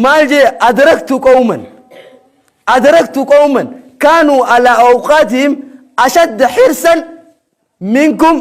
maal jee adraktu qawman adraktu qawman kaanuu alaa awqaatihim ashadda hirsan minkum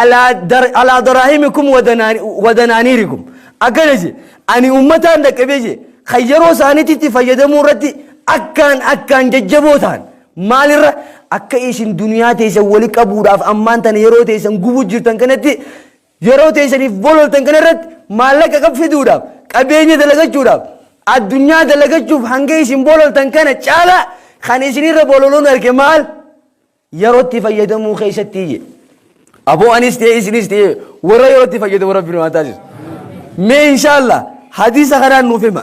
alaa dar- alaa daraahimikum wadanaani- wadanaaniirikum akkana jee ani ummataan dhaqqabee jee kan yeroo isaaniititti fayyadamuu irratti akkaan akkaan jajjaboo ta'an maalirra akka isin duniyaa teessan wali qabuudhaaf ammaan tana yeroo teessan gubuu jirtan kanatti Yeroo teessaniif bololtan kana irratti maallaqa qab fiduudhaaf, qabeenya dalagachuudhaaf, addunyaa dalagachuuf hanga isin bololtan kana caalaa kan isin irra bololuun arge maal? Yerootti fayyadamuu keessatti iyye. Aboo anis ta'e isinis ta'e warra yerootti fayyadamu rabbi nu haa taasisu. Mee inshaallah hadiisa kanaan nuuf hima.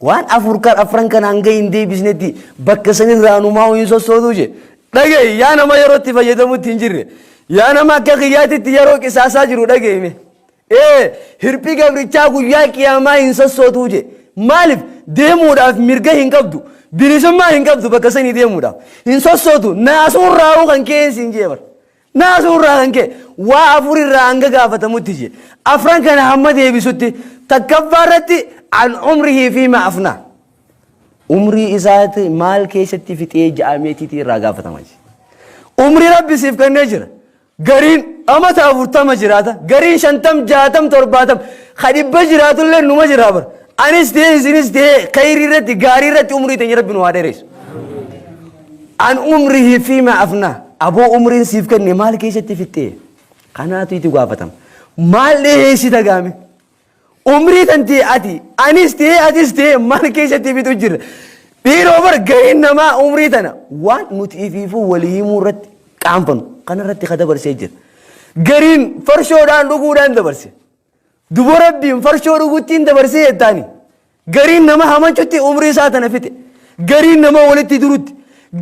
Waan afur kan afran kana hanga hin deebisnetti bakka sanirraa numaa'u hin sossootuu je. Dhaga'i yaa nama yeroo itti fayyadamutti hin jirre. Yaa nama akka kiyyaatitti yeroo qisaasaa jiru dhaga'ime. Ee hirphi gabrichaa guyyaa qiyaamaa hin sossootuu je. Maaliif deemuudhaaf mirga hin qabdu. Bilisummaa hin qabdu bakka sanii deemuudhaaf. Hin sossootu naasuun raawuu kan ka'een siin jeebar. Naasuu irraa kan ka'e waa afur irraa hanga gaafatamutti je. Afran kana hamma deebisutti takkaffaa irratti an umrihii fiima afnaa. Umrii isaati maal keessatti fixee ja'ameetiitii irraa gaafatama je. Umrii rabbi siif kennee jira. Gariin amata afurtama jiraata. Gariin shantam jaatam torbaatam. Ka dhibba jiraatullee numa jiraa bara. Anis ta'ee isinis ta'ee kayrii irratti gaarii irratti umrii teenya rabbi nu haa dheereessu. An umrihi fiima afna. Aboo umriin siif kenne maal keessatti fixxee? Kanaatu itti gaafatama. Maal dhiheessita gaame? Umrii tan ta'e ati anis ta'e atis ta'e maal keessatti fixu jirra? Dhiiroo bar gaheen namaa umrii tana waan nuti ifiifuu walii himuu irratti qaanfanu kanarratti ka dabarsee jira. Gariin farshoodhaan dhuguudhaan dabarse. Dubo rabbiin farshoo dhuguttiin dabarsee jettaani. Gariin nama hamachutti umrii isaa tana fixe. Gariin nama walitti durutti.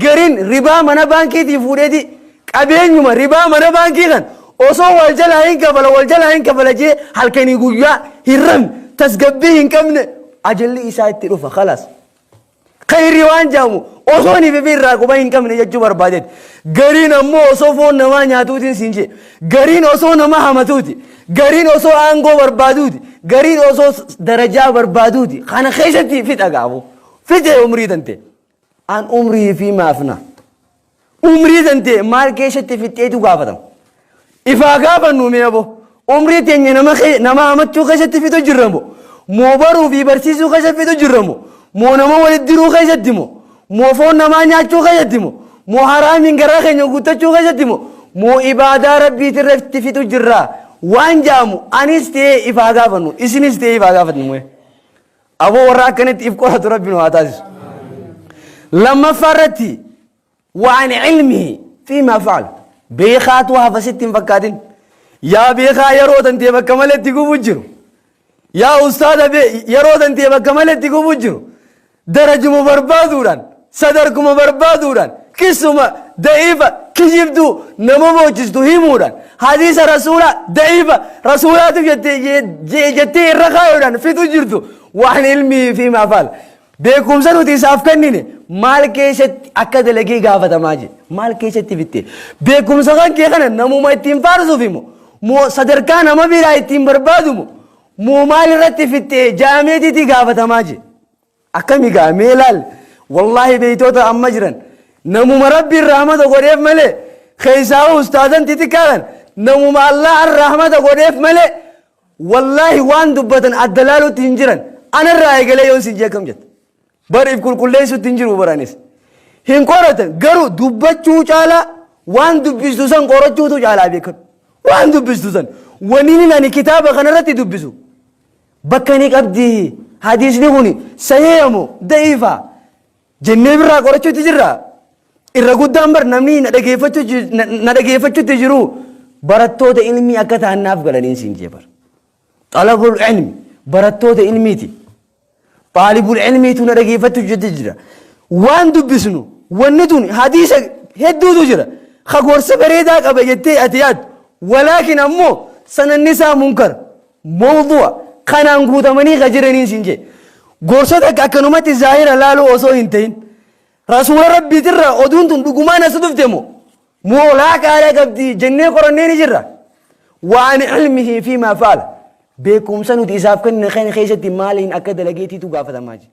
Gariin ribaa mana baankiitii fuudheeti qabeenyuma ribaa mana baankii kan osoo wal jalaa hin kafala wal jalaa hin kafala jee halkanii guyyaa hin rabne tasgabbii hin qabne ajalli isaa itti dhufa kalaas. Khayrri waan jedhamu osoo niif fi irraa quba hin qabne jechuu barbaadeeti. Gariin ammoo osoo foon namaa nyaatuutiin siin jee. Gariin osoo nama hamatuuti. Gariin osoo aangoo barbaaduuti. Gariin osoo s- darajaa barbaaduuti. Kana keessatti fixa gaafu. Fixe umrii tante. An umrii fi maafna. Umrii tantee maal keessatti fixxeetu gaafatama. Ifaa gaafannu mee abo umrii teenya nama kee- nama hamachuu keessatti fixu jirra moo moo baruu fi barsiisuu keessatti fixu jirra moo moo nama walitti diruu keessatti moo moo foon namaa nyaachuu keessatti moo moo haraamiin garaa keenya guuttachuu keessatti moo moo ibaadaa rabbiitti irratti fixu jirra waan jaamu anis ta'ee ifaa gaafannu isinis ta'ee ifaa gaafatnu mee. Aboo warra akkanitti if qoratu rabbi nu haa taasisu. Lammaffaa irratti waan ilmihi fi maa fa'al beekaatu hafa sitti hin fakkaatin. Yaa beekaa yeroo tantee bakka malee itti gubuu jiru. Yaa ustaaza yeroo tantee bakka malee itti gubuu jiru. Darajuma barbaaduudhaan Sadarkuma barbaaduudhaan, kissuma, da'iifa, kijibduu, nama boochistu himuudhaan, hadiisa rasuulaa, da'iifa, rasuulaatu jette, je, je, jettee irra kaayuudhaan fixu jirtu waan ilmii fi maafaal. Beekumsa nuti isaaf kennine maal keessatti akka dalagee gaafatamaa jira. Maal keessatti bitte. Beekumsa kan kee kana namuma ittiin faarsuufi moo moo sadarkaa nama biraa ittiin barbaadu moo moo maal irratti fittee jaameetiitii gaafatamaa jira. Akkami gaa mee laal wallahi beeytoota amma jiran namuma rabbiin rahmata godheef malee keessaahuu ustaazan xixiqqaa kan namuma allahan rahmata godheef malee wallahi waan dubbatan adda laalutti hin jiran anarraa eegalee yoon sin jee akkam jetta bar if qulqulleessutti hin jiru baranis hin qoratan garuu dubbachuu caalaa waan dubbistu san qorachuutu caalaa beekadhu waan dubbistu san waniin ani kitaaba kanarratti dubbisu Bakka ni qabdi. Hadiisni kuni sahiha moo da'iifa? Jennee birraa qorachuutti jirra. Irra guddaan bar namni na dhageeffachuu ji- na- na dhageeffachuutti jiru barattoota ilmii akka ta'an naaf galaniin siin jee bar. Xalabul ilmi barattoota ilmiiti. Xaalibul ilmiitu na dhageeffachuutti jira. Waan dubbisnu wanni tun hadiisa hedduutu jira. Ka gorsa bareedaa qaba jettee ati yaaddu. Walaakin ammoo sananni isaa munkar. Mowdu'a kanaan guutamanii ka jiraniin siin jee. Gorsa takka akkanumatti zaahira laaluu osoo hin ta'in Rasuula Rabbiitirraa oduun tun dhugumaan as dhufte moo moo laaqaadha qabdi jennee qorannee ni jirra. Waan ilmihii fi maa faala beekumsa nuti isaaf kenne keenya keessatti maaliin akka dalageetiitu gaafatamaa jira.